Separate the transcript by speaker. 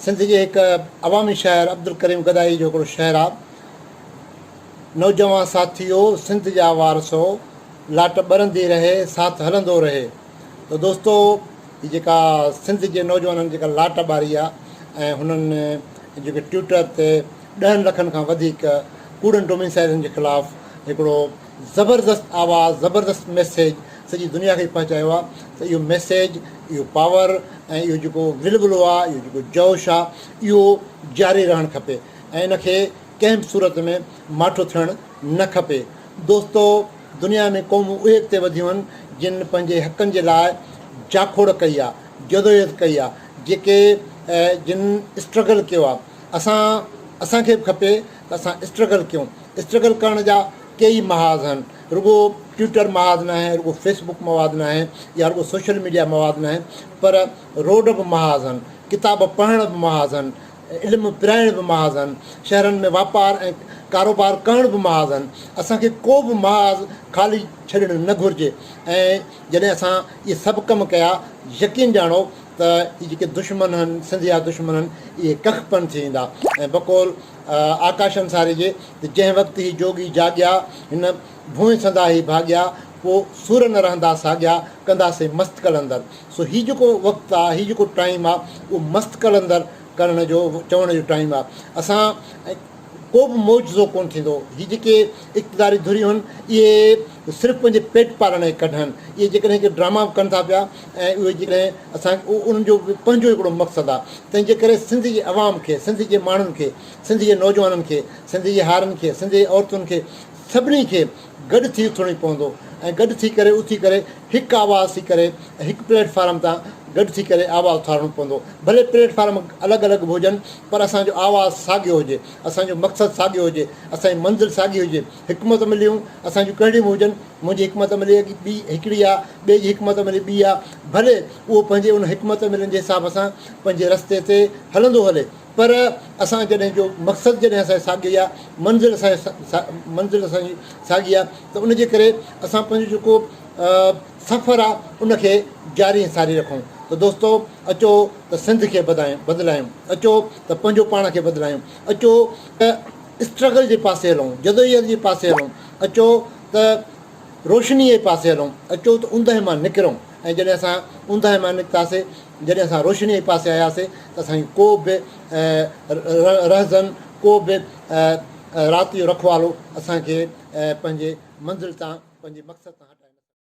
Speaker 1: سنڌ جي هڪ عوامي شاعر عبدالڪريم گدائي جو هڪڙو شعر آ. نوجوان ساٿيو سنڌ جا وارثو لاٽ ٻرندي رهي ساٿ هلندو رهي ته دوستو هي جيڪا سنڌ جي نوجوانن جيڪا لاٽ ٻاري آ ۽ هنن جيڪي ٽوئيٽر تي ڏهن لکن کان وڌيڪ ڪوڙن ڊوميسائيلن جي خلاف هڪڙو زبردست آواز زبردست ميسيج سڄي دنيا کي پهچايو آ ته اهو ميسيج اهو پاور ۽ اهو جيڪو ولولو آ اهو جيڪو جوش آ اهو جاري رهڻ کپي ۽ ان کي ڪنهن به صورت ۾ ماٺو ٿيڻ نه کپي دوستو دنيا ۾ قومون اهي اڳتي وڌيون آهن جن پنهنجي حقن جي لاء جاکوڙ ڪئي آ جدوجهد ڪئي آ جيڪي جن اسٽرگل ڪيو آ اسان اسان کي به کپي اسان اسٽرگل ڪيون اسٽرگل ڪرڻ جا ڪيئي محاذ آهن رڳو ٽوئيٽر محاذ ناهي رڳو فيس بڪ مواد ناهي يا رڳو سوشل ميڊيا مواد ناهي پر روڊ به محاذ آهن ڪتاب پڙهڻ به محاذ آهن علم پرائڻ به محاذ آهن شهرن ۾ واپار ۽ ڪاروبار ڪرڻ به محاذ آهن اسان کي ڪو به محاذ خالي ڇڏڻ نه گهرجي ۽ جڏهن اسان اهي سڀ ڪم ڪيا يقين ڄاڻو ته هي جيڪي دشمن هن سنڌ جا دشمن هن اهي ڪک پن ٿي ويندا ۽ بقول آڪاش انصاري جي ته جنهن وقت هي جوڳي جاڳيا هن ڀونء سندا هي ڀاڳيا پوء سور نه رهندا ساڳيا ڪندا سي مست قلندر سو هي جيڪو وقت آ هي جيڪو ٽائيم آ اهو مست قلندر ڪرڻ جو چوڻ جو ٽائيم آ اسان ڪوبه معجزو ڪونه ٿيندو. هي جيڪي اقتداري ڌريون آهن اهي صرف پنهنجي پيٽ پالڻ جي ڪڍ آهن. اهي جيڪڏهن هڪ ڊراما به ڪن ٿا پيا ۽ اهي جيڪڏهن اسان انهن جو به پنهنجو هڪڙو مقصد آهي تنهنجي ڪري سنڌ جي عوام کي سنڌ جي ماڻهن کي سنڌ جي نوجوانن کي سنڌ جي هارين کي سنڌ جي عورتن کي سڀني کي گڏ ٿي اٿڻي پوندو ۽ گڏ ٿي ڪري اٿي ڪري هڪ آواز ٿي ڪري هڪ پليٽ فارم تان گڏ ٿي ڪري آواز اٿارڻو پوندو ڀلي پليٽ فارم الڳ الڳ به هجن پر اسان جو آواز ساڳيو هجي، اسان جو مقصد ساڳيو هجي، اسان جي منزل ساڳي هجي، حڪمت عمليون اسان جون ڪهڙيون به هجن، منهنجي حڪمت عملي اڳي ٻي هڪڙي آ، ٻئي جي حڪمت عملي ٻي آ، ڀلي اهو پنهنجي ان حڪمت عملين جي حساب سان پنهنجي رستي تي هلندو هلي، پر اسان جڏهن جو مقصد جڏهن اسان جي ساڳيو ئي آ، منزل اسان جي منزل اسان جي ساڳي آ ته ان جي ڪري اسان پنهنجو جيڪو سفر آ ان کي جاري ۽ ساري رکون ته دوستو! اچو ته سنڌ کي بدلايون، اچو ته پنهنجو پاڻ کي بدلايون، اچو ته اسٽرگل جي پاسي هلون، جدوجهد جي پاسي هلون، اچو ته روشنيء جي پاسي هلون، اچو ته اوندهه مان نڪرون ۽ جڏهن اسان اوندهه مان نڪتاسين، جڏهن اسان روشنيء جي پاسي آياسين ته اسان جي ڪو به رهزن، ڪو به رات جو رکوالو اسان کي پنهنجي منزل تان، پنهنجي مقصد تان هٽائي نه سگهندو.